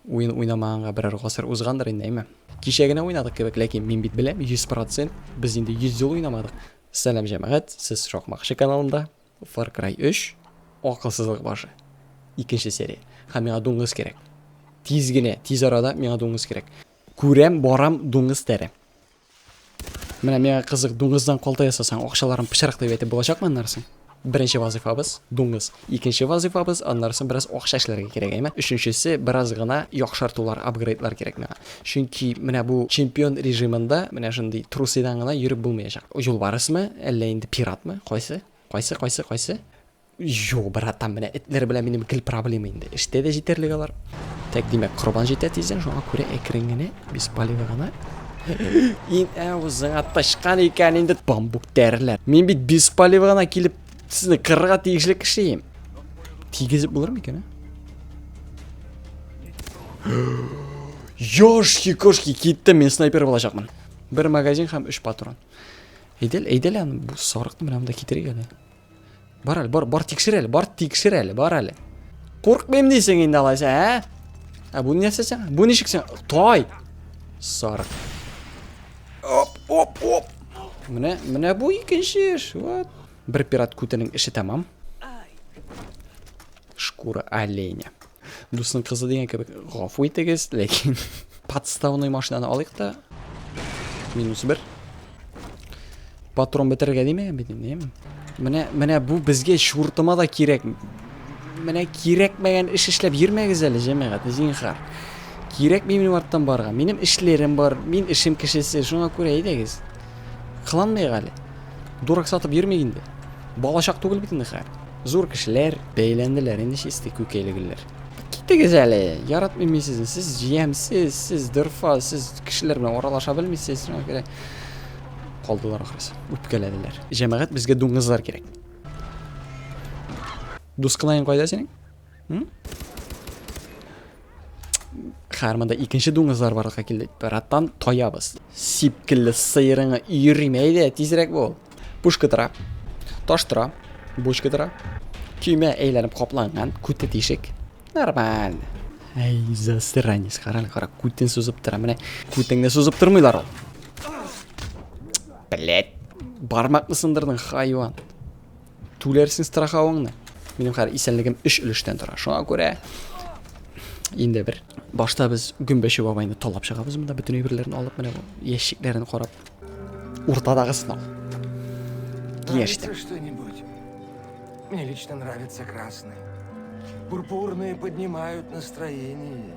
Уен уйнамаганга берәр гасыр узгандыр инде, әйме? Кичә генә уйнадык кебек, ләкин мин бит беләм, 100%, без инде 100 ел уйнамадык. Сәлам җәмәгать, сез Шакмакчы каналында. Far Cry 3, акылсызлык башы. Икенче серия. Һәм миңа дуңгыз кирәк. Тиз генә, тиз арада миңа дуңгыз кирәк. Күрәм, барам, дуңгыз тәре. Менә миңа кызык, дуңгыздан калта ясасаң, акчаларын пычрак дип әйтеп булачакмы аннарсын? Беренче вазыйфабыз, дуңгыз. Икенче вазыйфабыз, аннарсын бераз акча эшләргә кирәк, әйме? Өченчесе, бераз гына яхшартулар, апгрейдлар кирәк миңа. Чөнки менә бу чемпион режимында менә шундый трусыйдан гына йөреп булмаячак. Юлбарысмы, әллә инде пиратмы, кайсы? Кайсы, кайсы, кайсы? Юк, братан, менә этләр белән минем гел проблема инде. Эштә дә җитәрлек алар. Так, димәк, корбан җитә тиздән, шуңа күрә әкрен генә, без палевы гына. Ин авызыңа тычкан икән инде бамбук тәреләр. Мин бит без палевы гына килеп сезне кырырга тиешле кеше ем. Тигезеп булыр микән, а? Ёшки, кошки, китте, мен снайпер булачакмын. Бер магазин һәм 3 патрон. Әйдәл, әйдәл аны бу сарыкны менә монда китерик әле. Бар әле, бар, бар тикшер әле, бар тикшер әле, бар әле. Куркмыйм дисең инде алайса, ә? Ә бу нәрсә сәң? Бу ничек сәң? Тай! Сарык. Оп, оп, оп. Менә, менә бу икенче эш. Вот. Бер пират күтенең эше тәмам. Шкура оленя. Дусның кызы дигән кебек гафу итегез, ләкин подставной машинаны алыйк та. Минус бер. Патрон бетерергә димә, бедем. Менә, менә бу безгә шуртыма да кирәк. Менә кирәкмәгән эш эшләп йөрмәгез әле, җәмәгать, зинхар. Кирәк минем арттан барга. Минем эшләрем бар, мин эшем кешесе, шуңа күрә әйдәгез. Кыланмыйк әле. Дурак сатып йөрмик инде. Балачак түгел бит инде хәзер. Зур кешеләр, бәйләнделәр инде чисти күкәйле гөлләр. Китегез әле, яратмыйм мин сезне, сез җиямсез, сез дырфа, сез кешеләр белән аралаша белмисез, шуңа күрә калдылар ахрысы, үпкәләделәр. Җәмәгать безгә дуңгызлар кирәк. Дускылаең кайда синең? Хәрмәндә икенче дуңгызлар барлыкка килде. Бераттан таябыз. Сипкелле сыерыңы йөриме әйдә, тизрәк бул. Пушка тора. Таш тора. Бочка тора. Көймә әйләнеп капланган, күте тишек. Нормаль. Әй, засранец, карал, кара, күтен сузып тора, менә күтеңне сузып тормыйлар ул. Блять, бармакны сындырдың, хайван. Түләрсең страховыңны. Минем хәзер исәнлегем 3 өлештән тора. Шуңа күрә инде бер башта без гөмбәче бабайны талап чыгабыз монда бөтен әйберләрен алып менә бу ящикләрен карап уртадагы сынау киңәштә что-нибудь мне лично нравится красный пурпурные поднимают настроение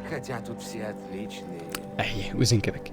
хотя тут все отличные әйе үзең кебек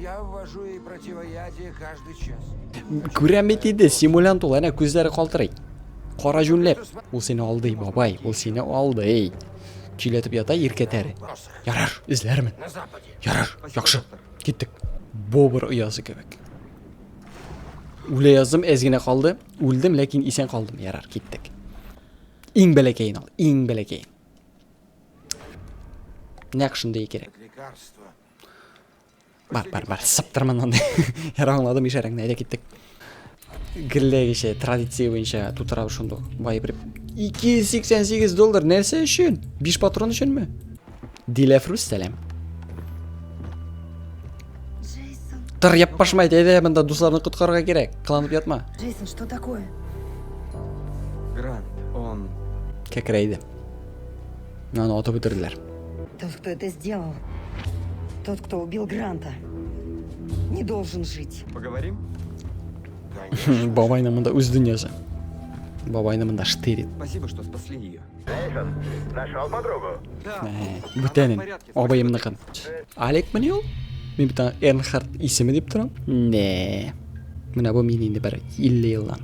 Я ввожу ей противоядие каждый час. Күрәм бит инде, симулянт ул, әнә күзләре калтырый. Кара җүнләп. Ул сине алдый, бабай, ул сине алдый. Чиләтеп ята иркә тәре. Ярар, эзләрмен. Ярар, яхшы. Киттек. Бобр оясы кебек. Үлә яздым, әз генә калды. Үлдем, ләкин исән калдым. Ярар, киттек. Иң бәләкәен ал, иң бәләкәен. Нәкшендәй кирәк. Бар, бар, бар, сыптыр моннан. Яра аңладым ишарәңне, әйдә киттек. Гелләгечә традиция буенча тутыра шундук. Бай бер 288 доллар нәрсә өчен? 5 патрон өченме? Диләфрус сәлам. Тыр яппашмайды, әйдә монда дусларны коткарырга кирәк. Кыланып ятма. Джейсон, что такое? Грант, он... Кәкрәйде. Аны атып үтерделәр. Тот, кто это сделал, тот, кто убил Гранта, не должен жить. Поговорим? Бабайның монда үз дөньясы. Бабайны монда штырит. Спасибо, что спасли ее. Эйсон, нашел подругу? Да. Бүтәнен, абыемныкын. Алек мени ул? Мин бит аны Эрнхард исеме дип торам. Не. Менә бу мин инде бер 50 елдан.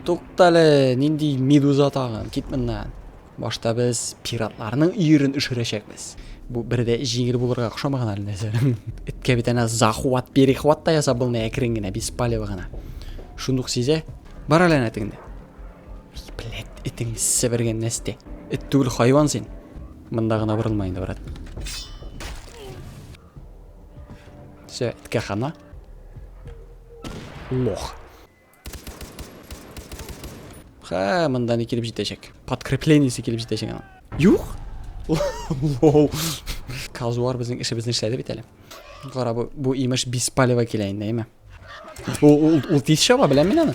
Туктале, нинди медуза тагын, кит моннан. Башта без пиратларның өерен өшерәчәкбез. Бу бер дә җиңел булырга охшамаган әле нәрсә. Эткә бит әнә захват, перехват та ясап булмый әкрен генә, без палево гына. Шундук сизә. Бар әле әнә тегендә. Блядь, этең себергән нәрсә. Эт түгел хайван син. Монда гына борылма инде, брат. Все, эткә хана. Лох. Ха, монда не килеп җитәчәк. Подкреплениесе килеп җитәчәк ана. Юк. Лол. Казуар безнең эшебезне эшләде бит әле. Кара бу, бу имеш беспалево килә инде, әйме. Ул ул тиз чаба, беләм мин аны.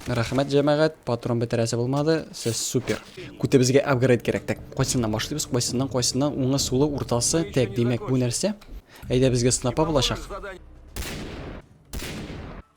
Рәхмәт җәмәгать, патрон бетерәсе булмады. Сез супер. Күтәбезгә апгрейд кирәк. Так, кайсыннан башлыйбыз? Кайсыннан, кайсыннан? Уңы, сулы, уртасы. Так, димәк, бу нәрсә? Әйдә безгә снапа булачак.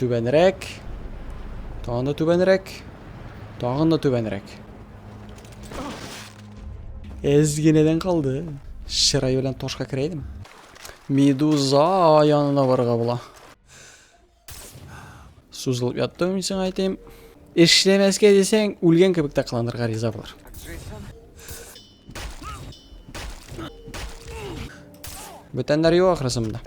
Түбәнрәк. Тагын да түбәнрәк. Тагын да түбәнрәк. Әз генәдән калды. Чырай белән ташка керәйдем. Медуза янына барырга була. Сузылып яттым мин сиңа әйтәм. Эшләмәскә дисәң, үлгән кебек тә кыланырга риза булыр. Бүтәннәр юк ахрысы монда.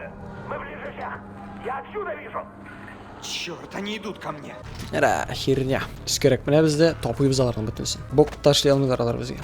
Черт, они идут ко мне. Ра, херня. Скорек, менә бездә тапыйбыз аларның бөтенесен. Бок ташлый алмыйлар алар безгә.